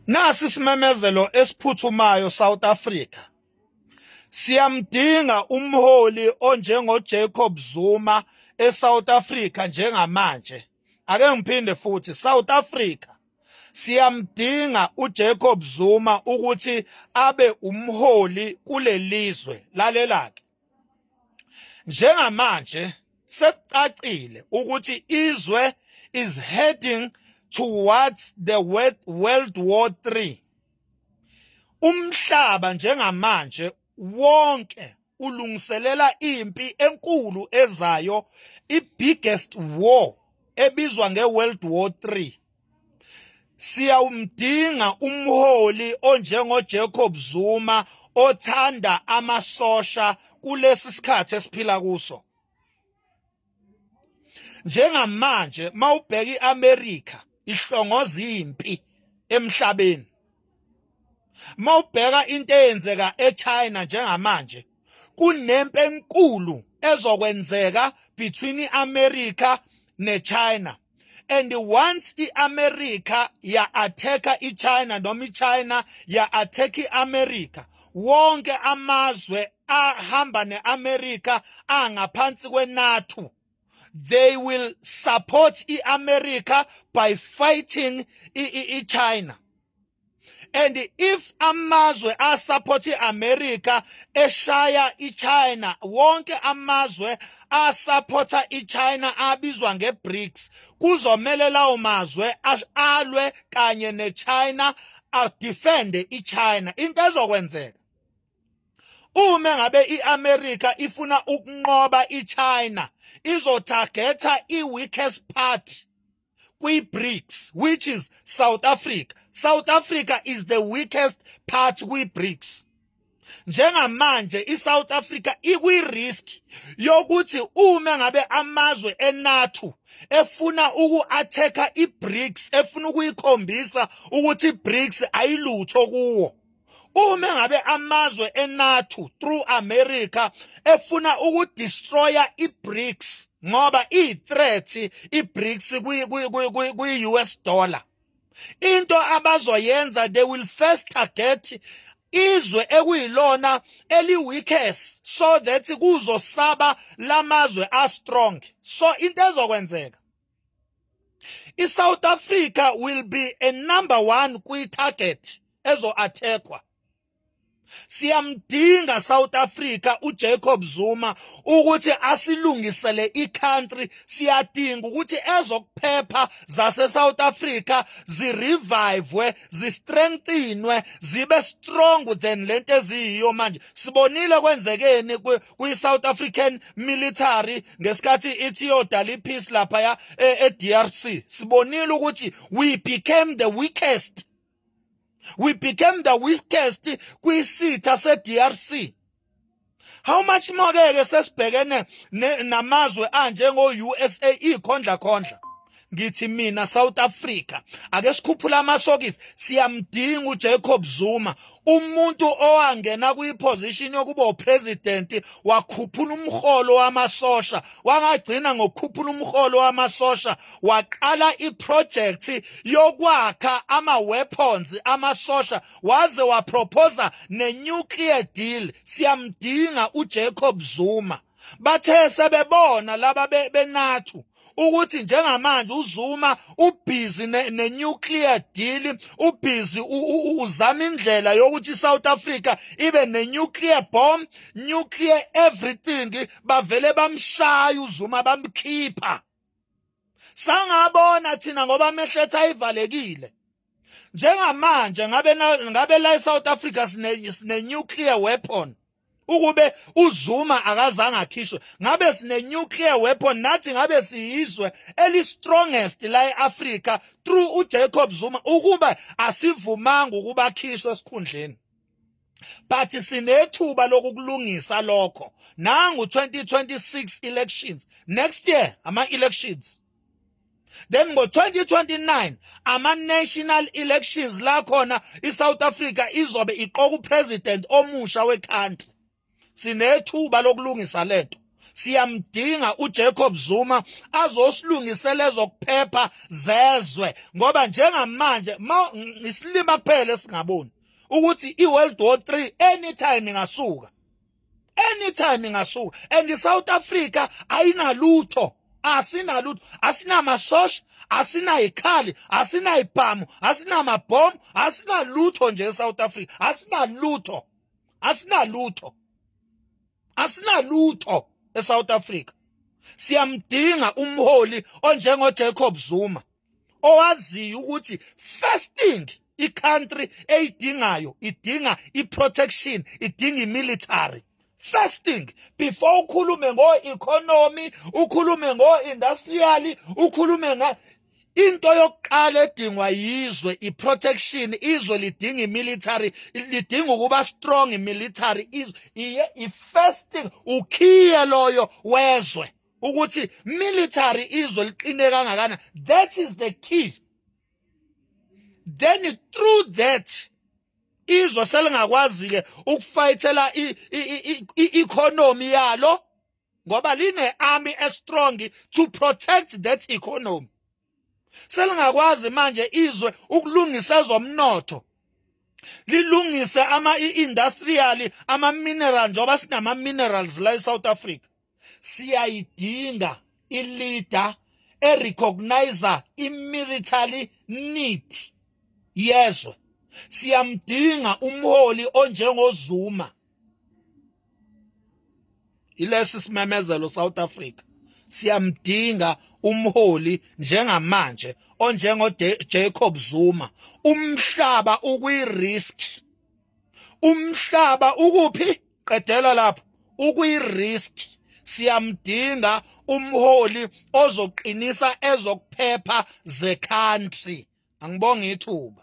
Nasi isimemezelo esiphuthumayo South Africa. Siyamdinga umholi onjengo Jacob Zuma eSouth Africa njengamanje. Ake ngiphinde futhi South Africa siyamdinga uJacob Zuma ukuthi abe umholi kulelizwe lalelake njengamanje sekucacile ukuthi izwe is heading towards the world war 3 umhlaba njengamanje wonke ulungiselela impi enkulu ezayo i-biggest war ebizwa nge-world war 3 siyawumdinga umholi onjengo Jacob Zuma othanda amasosha kulesi sikhathi esiphila kuso njengamanje mawubheka iAmerica ihlongoza impi emhlabeni mawubheka into eyenzeka eChina njengamanje kunempi enkulu ezokwenzeka between iAmerica neChina and once iAmerica ya attacker iChina noma iChina ya attack iAmerica wonke amazwe ahamba neAmerica angaphansi kweNATO they will support iAmerica by fighting iChina and if amazwe asupport iAmerica eshaya iChina wonke amazwe asupporta iChina abizwa ngeBRICS kuzomele lawo mazwe alwe kanye neChina adefende iChina into ezokwenzeka uma ngabe iAmerica ifuna ukunqoba iChina izotargeta iweakest part kwi-BRICS which is South Africa South Africa is the weakest part kwi-BRICS njengamanje iSouth Africa ikwi-risk yokuthi uma ngabe amazwe eNATO efuna uku-attacker i-BRICS efuna ukuyikhombisa ukuthi i-BRICS ayilutho kuwo uma ngabe amazwe enathu through America efuna ukudestroya iBRICS ngoba ithreat iBRICS kwi kwi kwi US dollar into abazoyenza they will first target izwe ekuyilona eliweakest so that kuzosaba lamazwe a strong so into ezokwenzeka i-south africa will be a number one kwi-target ezo-athekwa siyamdinga south africa ujacob zuma ukuthi asilungisele i-country siyadinga ukuthi ezokuphepha zase-south africa zirevivwe zistrengthinwe zibe strong than le nto eziyiyo manje sibonile kwenzekeni kwi-South African military ngesikhathi ithi yodala ipeace laphaya e-DRC e sibonile ukuthi we became the weakest we became the weakest kwisitha se-DRC how much more ke ke sesibhekene namazwe anjengo-USA ikhondla khondla ngithi mina South Africa ake sikhuphula amasokisi siyamdinga uJacob Zuma umuntu owangena kuyiposition yokuba upresident wakhuphula umholo wamasosha wangagcina ngokukhuphula umholo wamasosha waqala iproject yokwakha ama weapons amasosha waze waproposa ne nuclear deal siyamdinga uJacob Zuma bathe sebebona laba benathu ukuthi njengamanje uZuma ubhizi nenuclear deal ubhizi uzama indlela yokuthi iSouth Africa ibe nenuclear bomb nuclear everything bavele bamshaya uZuma bamkhipha sangabona thina ngoba amehletha ayivalekile njengamanje ngabe ngabe la eSouth Africa sine sine nuclear weapon ukube uZuma akazange akhishwe ngabe sine nuclear weapon nathi ngabe siyizwe eli strongest la eAfrica through uJacob Zuma ukuba asivumanga ukuba akhishwe esikhundleni but sinethuba lokukulungisa lokho nangu 2026 elections next year ama elections then ngo-2029 ama-national elections la khona i-south africa izobe iqoka upresident omusha wekhantri sinethuba lokulungisa le nto siyamdinga uJacob Zuma azosilungisela ezokuphepha zezwe ngoba njengamanje ngisilima kuphela singaboni ukuthi iWorld War 3 anytime ingasuka anytime ingasuka and iSouth Africa ayinalutho asinalutho asinamasosha asinayikhali asinayibhamu asinamabhomu asinalutho nje eSouth Africa asinalutho asinalutho asinalutho eSouth Africa siyamdinga umholi onjengo Jacob Zuma owaziyo ukuthi first thing icountry eyidingayo idinga iprotection idinga imilitary first thing before ukhulume ngo-economy ukhulume ngo-industrial ukhulume nga into yokuqala edingwa yizwe iprotection izwe lidinga imilitary lidinga ukuba strong imilitary izwe iye ifirst thing ukhiye loyo wezwe ukuthi military izwe liqine kangakana that is the key then through that izwe selingakwazi ke ukufayithela i-economy yalo ngoba line army estrong to protect that economy selingakwazi manje izwe ukulungisa ezomnotho lilungise ama industrial ama mineral njengoba sinama minerals la eSouth Africa siyayidinga i leader e recognizer i military need yezwe siyamdinga umholi onjengozuma ilesi simemezelo South Africa siyamdinga umholi njengamanje onjengo Jacob Zuma umhlaba ukwi risk umhlaba ukuphi qedela lapho ukwi risk siyamdinga umholi ozoqinisa ezokuphepha ze country angibonga ithuba